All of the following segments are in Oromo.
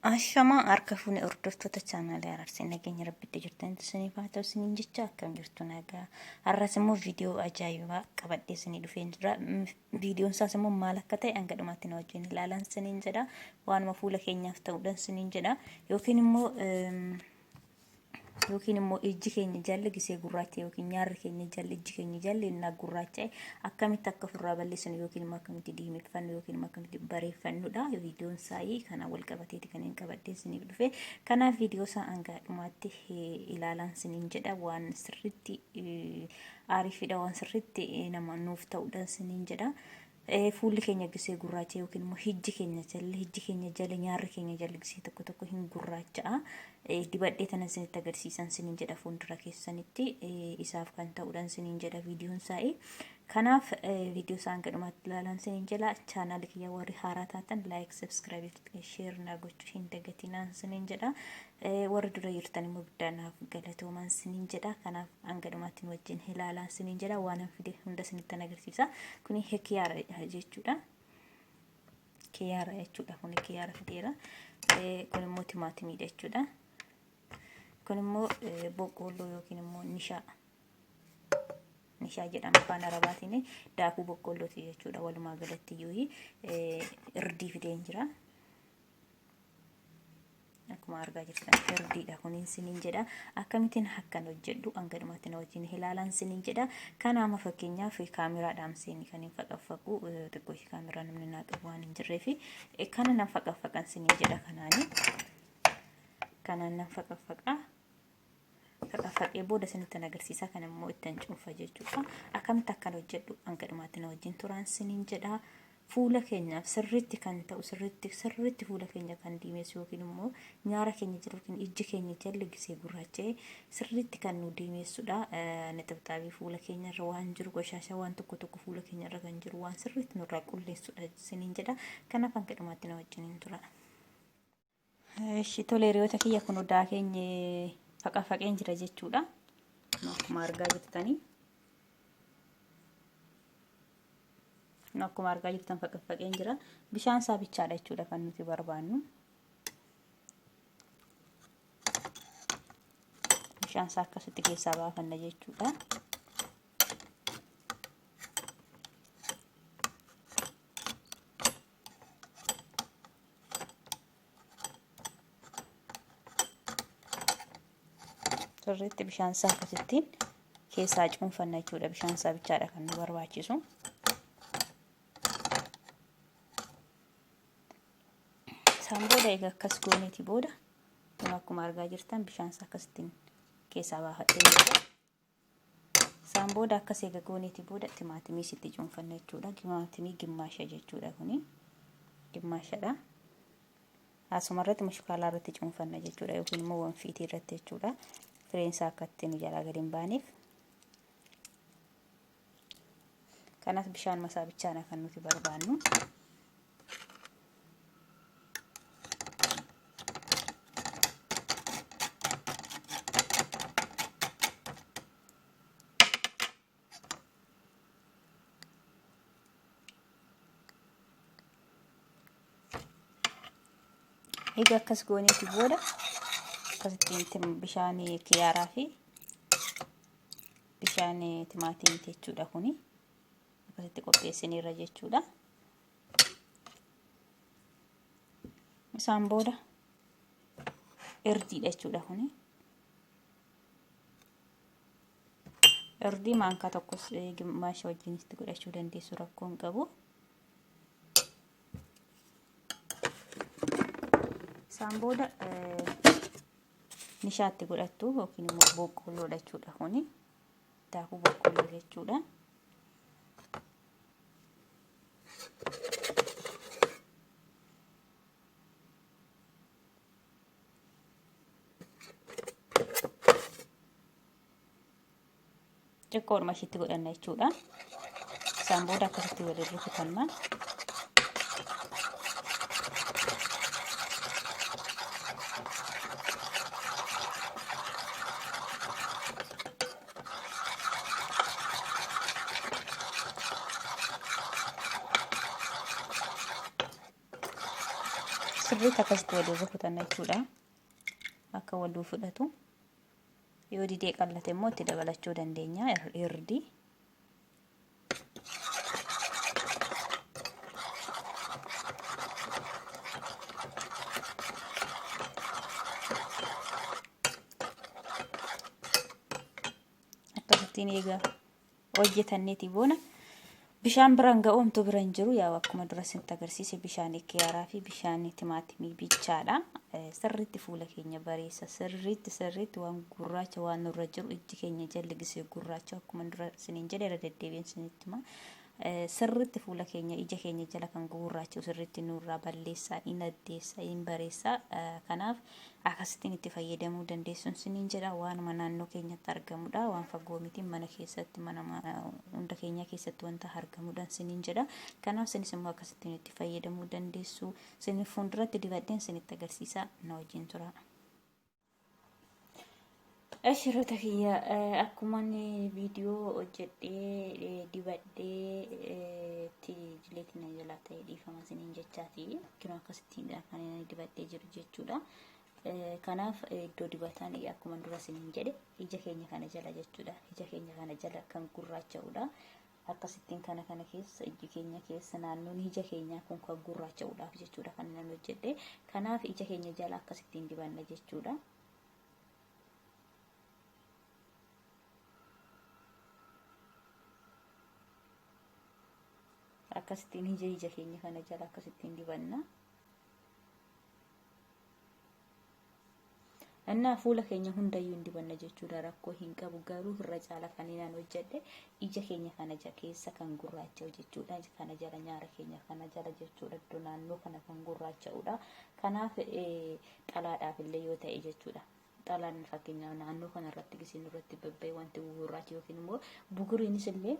Ashamaa harka fuune hordoftoota chaanaalii araarsi nageenya rabbitti jirtan isiniif haa ta'u isiniin jecha akkam jirtu nagaa har'as immoo viidiyoo ajaa'ibaa qabadhee isinii dhufee jira viidiyoon isaas immoo maal akka ta'e hanga dhumaatti na wajjin ilaalan isiniin jedha waanuma fuula keenyaaf ta'uudhaan isiniin jedha yookiin immoo yookiin immoo ijji keenya jalli gisee gurraacha yookiin nyaarri keenya jalli ijji keenya jalli innaa gurraacha'e akkamitti akka ofirraa balleessinu yookiin immoo akkamitti diimeffannu yookiin immoo akkamitti bareeffannudha viidiyoon saayii kanaan wal qabateeti kan hin qabaddee siniif dhufe kanaaf viidiyoo isaa hangaa dhumaatti ilaalaan siniin jedha waan sirriitti aariifidha waan sirriitti nama nuuf ta'uudhaan siniin jedha Fuulli keenya gisee gurraacha yookiin immoo hijji keenya jala hijji keenya jala nyaarri keenya jala gisee tokko tokko hin gurraacha'a. Dibadhee tanan sinitti agarsiisan sinin jedha fuuldura keessanitti isaaf kan ta'uudhaan sinin jedha viidiyoon saa'e. Kanaaf viidiyoo isaan gadhumaatti ilaalan sinin jedha chaanaali kiyya warri haaraa taatan laayik sabskiraabii sheer naa gochuu hin dagatinaan sinin jedha. Warri dura jirtan immoo guddaan naaf galatoomaan siniin jedha. Kanaaf hanga dhumaatti nu wajjin ilaalaan siniin jedha. Waanan fide hunda sinittan agarsiisa. Kuni kiyaara jechuudha. Kiyaara jechuudha. Kuni kiyaara fideera. Kun immoo timaatimiidha jechuudha. Kun immoo boqqoolloo yookiin immoo nishaa. Nishaa jedhama afaan arabaatiin daakuu boqqoollooti jechuudha. Walumaa galatti iyyuu irdii fideen jira. akkuma argaa jirtan firdiidha kuniin siniin jedha akkamittiin akkan hojjedhu hanga dhumatti na wajjin ilaalan siniin jedha kanaama fakkeenyaaf kaameraa dhaamseen kan hin faqaffaqu xiqqoo ishee kaameraa namni naa qabu waan hin jirreef kana nan faqaffaqan siniin jedha kanaani kanaan nan faqaffaqaa Dhaqafadhee booda isinittan agarsiisaa kan immoo ittan cuunfa jechuudha. Akkamitti akkan hojjedhu hanga dhumaatti na wajjin turaan siniin jedha. Fuula keenyaaf sirriitti kan ta'u sirriitti sirriitti fuula keenya kan diimeessu yookiin immoo nyaara keenya jiru yookiin ijji keenya jalli gisee gurraacha'ee sirriitti kan nu diimeessudha. Nixibxaabii fuula keenya irra waan jiru qoshaashaa waan tokko tokko fuula keenya irra kan jiru waan sirriitti nurraa qulleessudha siniin jedha. Kanaaf hanga dhumaatti na wajjin hin tura. Ishi tole hiriyoota kiyya kun odaa keenya faqa faqeen jira jechuudha. Akkuma argaa jirtanii. Akkuma argaa jirtan faqa faqeen jira. Bishaan isaa bichaadha jechuudha kan nuti barbaannu. Bishaan isaa akkasitti keessaa baafanna jechuudha. sirriitti bishaan isaa akkasittiin keessaa cuunfanna jechuudha bishaan isaa bichaadha kan nu barbaachisu. Isaan booda egaa akkas gooneeti booda akkuma argaa jirtan bishaan isaa akkasittiin keessaa baafadhee Isaan booda akka seega gooneeti booda timaatimii sitti cuunfanna jechuudha. Timaatimii gimmaasha jechuudha kuni. Gimmaashadha. Asuma irratti mushukaalaa irratti cuunfanna jechuudha yookiin immoo wanfiitii irratti jechuudha. Fireen isaa akka itti nu jalaa gadi hin baaneef. Kanaaf bishaan masaa bichaana kan nuti barbaannu. Egaa akkas gooneeti booda akkasittiin bishaan kiyaaraa fi Bishaan timaatiimti jechuudha kuni. Akkasitti qopheessineerra jechuudha. Isaan booda irdiidha jechuudha kuni. Irdii maankaa tokkos gimmaasha wajjin itti godhachuu dandeessu rakkoo hin qabu. Isaan booda nishaatti godhattu yookiin immoo boqqoolloodha jechuudha kuni daakuu boqqoolloo jechuudha. xiqqoodhuma ishiitti godhanna jechuudha. Isaan booda akkasitti waliin rukutanna. Sirriitti akkasitti waliin rukutanna jechuudha. Akka waliin fudhatu. Yoo didee qallate immoo itti dabalachuu dandeenya hirdii. Akkasittiin eegaa. hojjetanneeti boona. Bishaan biraan ga'u homtuu bira hin jiru. Yaa akkuma dura isinitti agarsiise bishaan kiyaaraa fi bishaan timaatimii bichaadha. Sirriitti fuula keenya bareessa. Sirriitti sirriitti waan gurraacha waan nurra jiru ijji keenya jalli gisee gurraacha akkuma dura isiniin jedhe irra deddeebiin isinitti hima. Sirriitti fuula keenya ija keenya jala kan gurraacha sirriitti nurraa balleessaa, hin addeessaa, hin bareessaa. Kanaaf Akasittin itti fayyadamuu dandeessun sinin jedha waanuma naannoo keenyatti argamudha waan fagoo miti mana keessatti mana hunda keenyaa keessatti wanta argamudhan sinin jedha kanaaf sinis immoo akkasittiin itti fayyadamuu dandeessu sinin fuulduratti dibadheen sinitti agarsiisa na wajjin tura. Ashiroota kiyya akkuman viidiyoo hojjedhee dibadhee itti jileetiin na jalaa ta'e dhiifama isiniin jechaati. Kino akkasittiin kan inni dibadhee jiru jechuudha. Kanaaf iddoo dibataan akkuma dura isiniin jedhe ija keenya kana jala jechuudha. Ija keenya kana jala kan gurraacha'udha. Akkasittiin kana kana keessa iji keenya keessa naannoon ija keenyaa kun kan gurraacha'uudhaaf jechuudha kan inni hojjedhe. Kanaaf ija keenya jala akkasittiin dibanna jechuudha. akkasittiin ija ija keenya kana jala akkasittiin dibanna. Annaa fuula keenya hundayyuu hin dibanna jechuudha rakkoo hin qabu garuu irra caala kan inaan hojjedhe ija keenya kana ja keessa kan gurraacha'u jechuudha kana jala nyaara keenya kana jala jechuudha iddoo naannoo kana kan gurraacha'udha kanaaf xalaadhaaf illee yoo ta'e jechuudha. Xalaan fakkeenyaaf naannoo kana irratti gisee nurratti babba'e wanti gugurraachi yookiin immoo buguriinis illee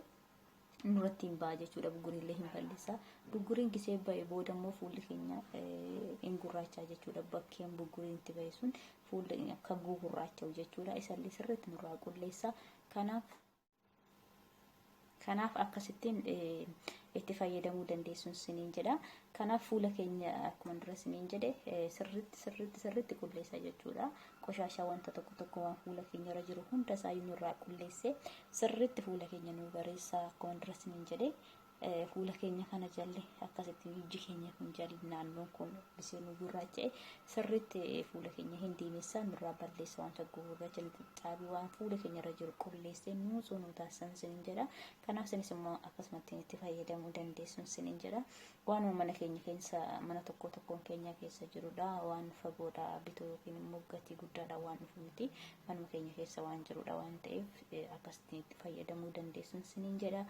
nurratti hin ba'a jechuudha. Buguriin illee hin balleessa. Buguriin gisee ba'e booda immoo fuulli keenya eh, hin gurraachaa jechuudha. Bakkeen buguriin itti ba'e sun fuulli keenya akka gugurraacha'u jechuudha. Isa illee sirriitti nurraa qulleessa. Kanaaf Kanaaf akkasittiin itti fayyadamuu dandeessuun siniin jedha. Kanaaf fuula keenya akkuma dura siniin jedhe sirriitti sirriitti sirriitti qulleessa jechuudha. Qoshaashaa wanta tokko tokko waan fuula keenya irra jiru hunda isaa nurraa qulleessee sirriitti fuula keenya nuu bareessa akkuma dura siniin jedhe fuula keenya kana jalle akkasitti ijji keenya kun jal naannoon kun bisee nu gurraacha'e sirriitti fuula keenya hin diimessaa nurraa balleessa wanta gurraacha nu xixxaabi waan fuula keenya irra jiru qulleessee nuu sunuu taasisan sinin jedha kanaaf sinis immoo akkasumatti itti fayyadamuu dandeessun sinin jedha waanuma mana keenya keessa mana tokko tokkoon keenya keessa jirudha waan fagoodha bituu yookiin immoo gatii guddaadha waan dhufu miti manuma keenya keessa waan jirudha waan ta'eef akkasitti itti fayyadamuu dandeessun sinin jedha.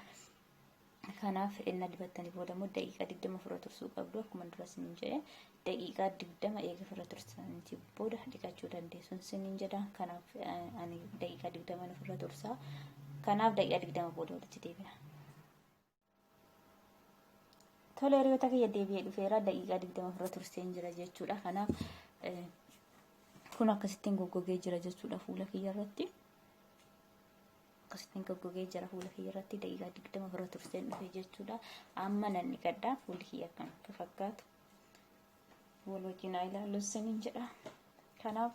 Kanaaf ennaa dibattanii booda immoo daqiiqaa 20 ofirra tursuu qabdu akkuma dura isiniin jedhe daqiiqaa 20 eega ofirra tursaniitii booda dhiqachuu dandeessu isiniin jedha kanaaf ani daqiiqaa 20 ofirra tursaa kanaaf daqiiqaa 20 booda walitti deebina. Tole hiriyoota kiyya deebi'ee dhufeera daqiiqaa 20 ofirra turseen jira jechuudha kanaaf kun akkasittiin goggogee jira jechuudha fuula kiyya irratti. akkasittiin goggogee jira fuula kiyya irratti daqiiqaa digdama bira turseen dhufe jechuudha. Amma nan dhiqadha fuulli kiyya akkam akka fakkaatu wal wajjin haa ilaallu isiniin jedha. Kanaaf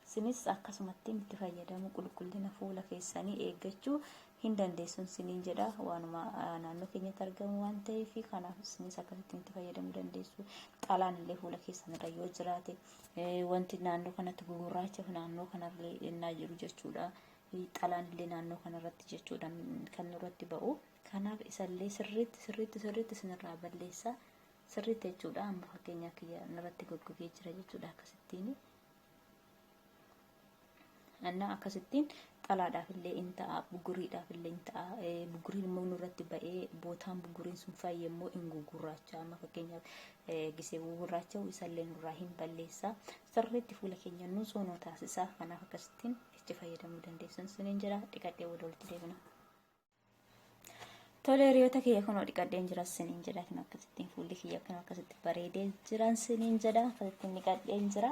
isinis akkasumattiin itti fayyadamu qulqullina fuula keessanii eeggachuu hin dandeessun isiniin jedha. Waanuma naannoo keenyatti argamu waan ta'eef kanaaf isinis akkasittiin itti fayyadamuu dandeessu. Xalaan illee fuula keessan irra yoo jiraate wanti naannoo kanatti gugurraacha naannoo kanarra innaa jiru jechuudha. xiinxalaan illee naannoo kanarratti jechuudha kan nurratti ba'u. Kanaaf isallee sirriitti sirriitti sirriitti isinirraa balleessaa sirriitti jechuudha amma fakkeenyaa kiyya narratti goggogee jira jechuudha akkasittiin. Annaa akkasittiin xalaadhaaf illee in ta'a buguriidhaaf illee in ta'a buguriin immoo nurratti ba'ee bootaan buguriin sun fayyee immoo in gugurraacha amma fakkeenyaaf gisee gugurraacha'u isallee nurraa hin balleessaa sirriitti fuula keenya nuusoo nu taasisaa kanaaf akkasittiin. itti fayyadamuu dandeessan suniin jira dhiqadhee booda walitti deebina. Tole hiriyoota kiyya kunoo dhiqadheen jira siniin jedha kan akkasittiin fuulli kiyya kan akkasitti bareedee jiran siniin jedha akkasittiin dhiqadheen jira.